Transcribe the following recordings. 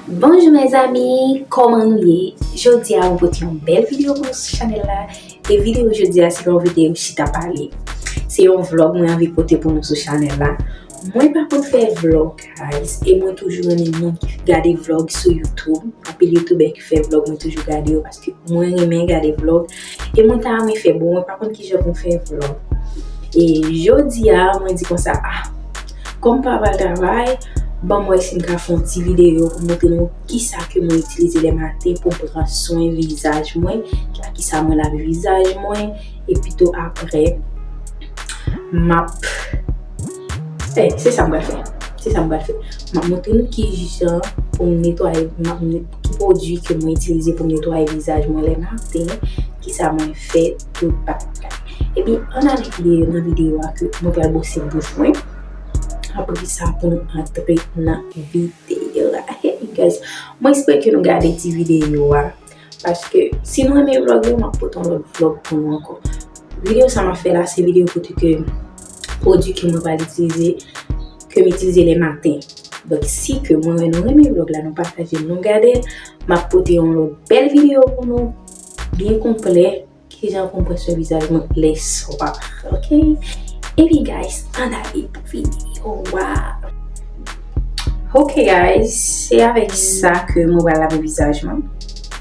Bonjou mes amis kòman nou ye jodia mwen pote yon bèl video pou nou sou chanèl la e video jodia se yon video chita pale se yon vlog mwen anvi pote pou nou sou chanèl la mwen pa konn fè vlog guys e mwen toujou renmen moun ki gade vlog sou youtube anpil youtubè ki fè vlog mwen toujou gade yo paske mwen renmen gade vlog E mwen ta renmen fè bon mwen pa konn kijan pou m fè vlog. E jodi a mwen di konsa ah kòm m pa pral travay ban m wè si m ka fè yon ti videyo pou m montre nou kisa ke mwen itilize le maten pou m pran swen vizaj mwen, ak kisa mwen lave vizaj mwen epi tou aprè m ap fè se sa m pral fè se sa m pral fè m ap montre nou kijan pou m netwaye m ap Ki pwodui ke mwen itilize pou m netwaye vizaj mwen lè maten, kisa mwen fè, tout patapata. Epi, ann ale pi deyò nan videyo a ke mwen pral bwose bouch mwen. Apre sa pou nou antre nan videyo a. Hey you guys, mwen espere ke nou gade ti videyo a. Paske, si nou renmen vlog yo, m ap pote yon lòt vlog pou nou ankò. Videyo sa m ap fè la, se videyo kote ke pwodwi ke mwen pral itilize, ke m itilize le maten. Donk si ke mwen wè nou renmen vlog la, nou pataje l, nou gade l, m ap pote yon lòt bèl videyo pou nou, byen konplè, kijan pou m pran swen vizaj mwen le swa. Ok? Epi guys, ann ale pou videyo a! Ok guys, se avèk sa ke mwen pral lave vizaj mwen.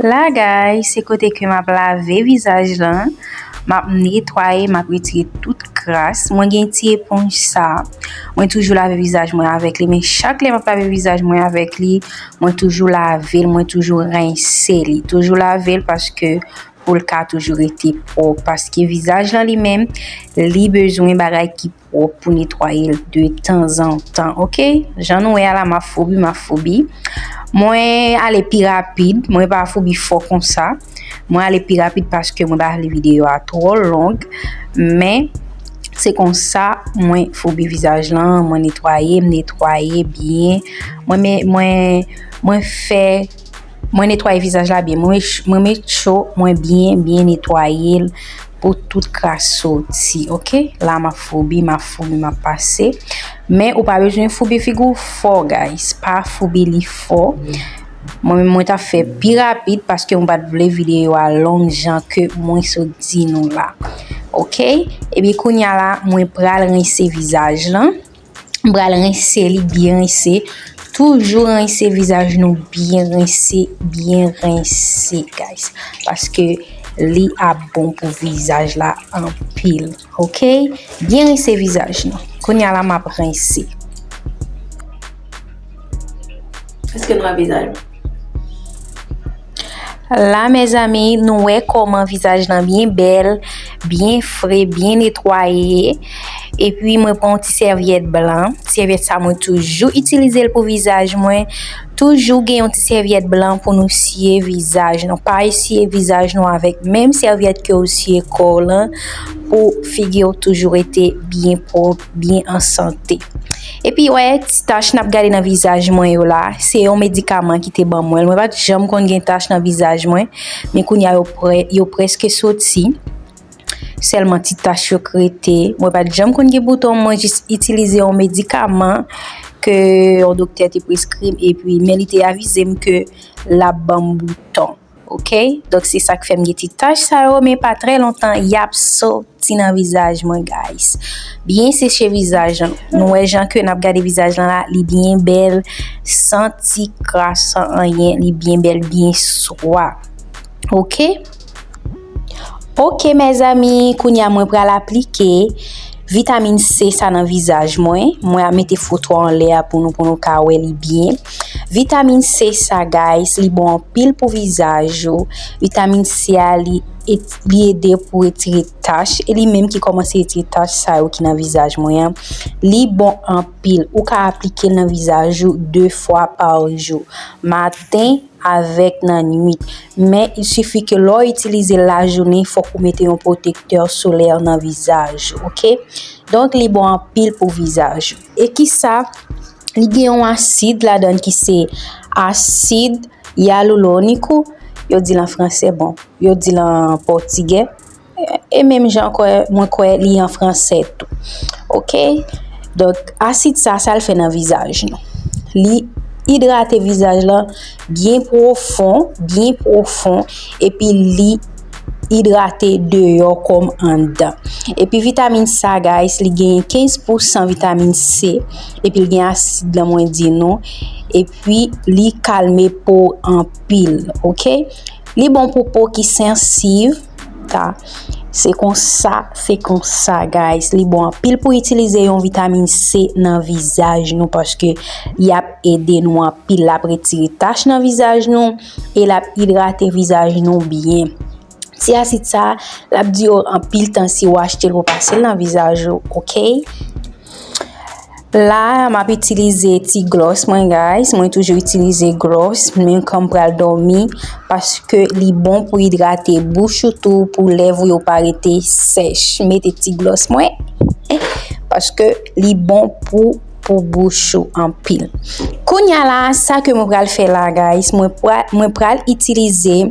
La gay se kote ke map lave vizaj lan map netwaye map retire tout kras mwen gen ti eponj sa mwen toujou lave vizaj mwen avèk li men chak lè map lave vizaj mwen avèk li mwen toujou lave l mwen toujou rense li toujou lave l paske pou l ka toujou rete pwòp paske vizaj lan li menm li bezwen bagay ki pwòp pou netwayel de tan zan tan ok jan nou wè a la map foubi map foubi mwen ale pi rapid mwen pa foubi fò konsa mwen ale pi rapid paske mwen pa vle videyo a twò long men se konsa mwen foubi vizaj lan mwen netwaye mwen netwaye byen mwen mwen mwen fè Mwen netwaye vizaj la byen. Mwen met cho mwen byen byen netwaye l pou tout kras soti ok. La map foubi map foubi map pase. Men ou pa bezwen foubi figi w fò guys. Pa foubi li fò. Mwen menm mwen ta fè pi rapid paske mwen pat vle videyo a long jan ke mwen sot di nou la. Ok. Ebyen kounya la mwen pral rense vizaj lan. M pral rense li byen rense. Toujou rense vizaj nou byen rense, byen rense guys. Paske li ap bon pou vizaj la anpil. Ok? Byen rense vizaj nou. Kounya la m ap rense. Eske nou wè vizaj mwen? La mezanmi nou wè koman vizaj nan byen bèl, byen fre, byen netwaye. E pi mwen pran yon ti sèvyèt blan. Sèvyèt sa mwen toujou itilize l pou vizaj mwen. Toujou gen yon ti sèvyèt blan pou nou siye vizaj nou. Pa esye vizaj nou avèk menm sèvyèt ke ou siye kò w lan pou figi w toujou rete byen pwòp. byen an sante. Epi wè ti tach nap gade nan vizaj mwen yo la, se yon medikaman ki te ban mwen. Mwen pat janm konn gen tach nan vizaj mwen, men kounye a yo preske soti. Sèlman ti tach yo k rete. Mwen pat janm konn gen bouton, mwen jis itilize yon medikaman ke yon doktè te preskri m epi men li te avize m ke lap ban m bouton. Ok donk se sak fèm gen ti tach sa yo men pa trè lontan yap soti nan vizaj mwen guys byen seche vizaj lan nou wè jan ke nap gade vizaj lan la li byen bèl san ti kras san anyen li byen bèl byen swa ok. Ok mezanmi kounya mwen pral aplike vitamin C sa nan vizaj mwen, mwen ap mete foto an lè a pou nou pou nou ka wè li byen. Vitamin C sa guys li bon anpil pou vizaj ou, vitamin C a li ede pou retire tach e li menm ki komanse retire tach sa yo ki nan vizaj mwen an, li bon anpil ou ka aplike nan vizaj ou 2 fwa pa jou, maten. avèk nan nwit, men il sifi ke lè w itilize l lajounen fòk ou mete yon pwotektè solè nan vizaj ou ok, donk li bon anpil pou vizaj ou. E kisa li gen yon asid ladan l ki se asid yaluloniku yo di l an fransè bon yo di l an pòtigè. E menm jan kwe mwen kwe li an franse tou. Ok? Donk, asid sa, sa l fè nan vizaj nou. Li idrate vizaj la byen pwofon, byen pwofon, epi li idrate deyo kom andan. Epi vitamine sa, guys, li gen 15 pou 100 vitamine C, epi li gen asid la mwen di nou, epi li kalme po anpil. Ok? Li bon pou po ki sensiv. Ka. Se konsa, se konsa guys, li bon anpil pou itilize yon vitamine C nan vizaj nou paske li ap ede nou anpil lap retire tach nan vizaj nou e lap idrate vizaj nou byen. Ti asid sa, lap dire anpil tan si ou achte l pou pase l nan vizaj ou, ok. La map itilize ti glòs mwen guys, mwen toujou itilize glòs men kan m pral dòmi paske li bon pou idrate bouch ou tou pou lèv ou yo pa rete sèch. M mete ti glòs mwen paske li bon pou pou bouch ou anpil. Kounya la sa ke mwen pral fè la guys, mwen pral itilize.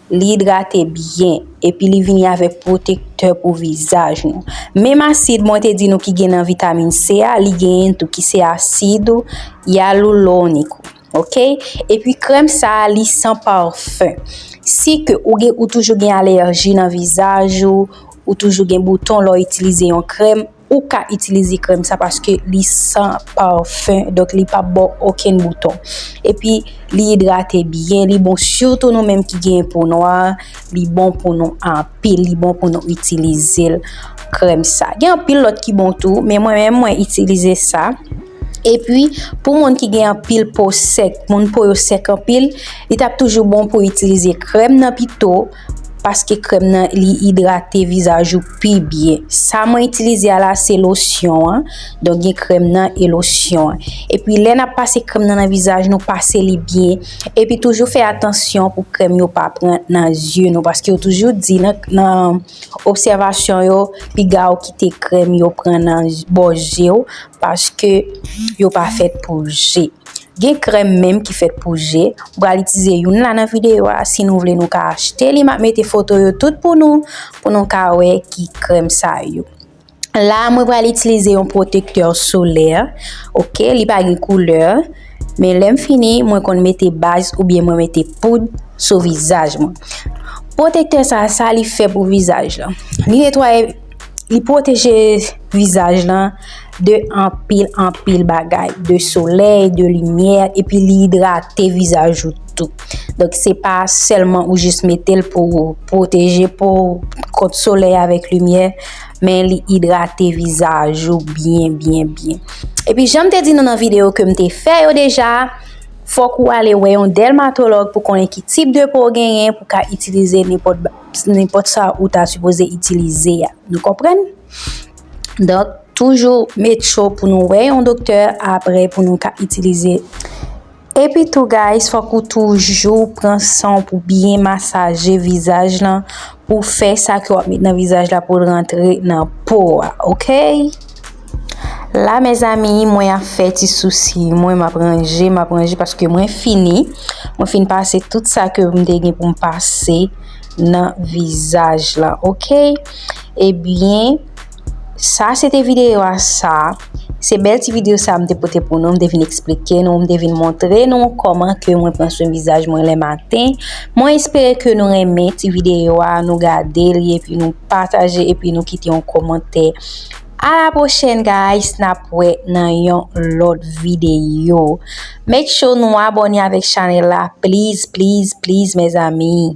Li idrate byen epi li vini avèk pwotektè pou vizaj nou. Menm asid mwen te di nou ki gen nan vitamin C a, li genyen tou ki se asid hyaluronique ou ok. Epi krèm sa li san parfum. Si ke ou gen ou toujou gen alèji nan vizaj ou, ou toujou gen bouton lè w itilize yon krèm, Ou ka itilize krèm sa paske li san parfum donk li pap baw okenn bouton. Epi li idrate byen, li bon sitou nou menm ki gen po nwa, li bon pou nou anpil, li bon pou nou itilize l krèm sa. Gen anpil lòt ki bon tou, men mwen menm mwen itilize sa. Epi pou moun ki gen anpil po sèk, moun po yo sèk anpil, li tap toujou bon pou itilize krèm nan pito. Paske krèm nan li idrate vizaj ou pi byen. Sa mwen itilize a la se losyon an. Donk gen krèm nan e losyon an. E pi lè nap pase krèm nan nan vizaj nou pase li byen. E pi toujou fè atansyon pou krèm yo pa pran nan zye nou. Paske yo toujou di nan obsèvasyon yo piga ou kite krèm yo pran nan bo zye ou. Paske yo pa fèt pou zye. Gen krèm menm ki fèt pou je, m pral itize youn la nan videyo a, si nou vle nou ka achte li, map mete foto yo tout pou nou, pou nou ka wè ki krèm sa yo. La mwen pral itilize yon protektè solè, ok, li pa gen koulè, men lèm fini mwen konn mete baz oubyen mwen mete poud sou vizaj mwen. Protektè sa, sa li fè pou vizaj lan, li netwaye. Li pwoteje vizaj lan de anpil anpil bagay. De solèy, de limyè, epi li idrate vizaj ou tou. Donk se pa sèlman ou jis metel pou ou pwoteje pou kont solèy avèk limyè. Men li idrate vizaj ou byen byen byen. Epi janm te di nou nan video kem te fè yo deja. Fòk ou ale wè yon dèlmatològ pou konnen ki tip de po ou genyen pou ka itilize nenpòt ba. nenpòt sa ou ta sipoze itilize a. Nou konprann? Donk, toujou met cho pou nou wè yon doktè apre pou nou ka itilize. Epi tou guys, fòk ou toujou pran san pou byen masaje vizaj lan pou fè sa ke w ap met nan vizaj la pou l rantre nan po a, ok? La mezanmi mwen ap fè ti sousi mwen map ranje map ranje paske mwen fini mwen fini pase tout sa ke mwen te gen pou m pase nan vizaj la ok ebyen sa se te videyo a sa se bel ti videyo sa mwen te pote pou nou mwen te vin eksplike nou mwen te vin montre nou koman ke mwen pran swen vizaj mwen le maten mwen espere ke nou renmen ti videyo a nou gade li epi nou pataje epi nou kite yon komante A la prochèn guys nap wè nan yon lòt videyo make sure nou abòne avèk chanèl la please please please mes amis.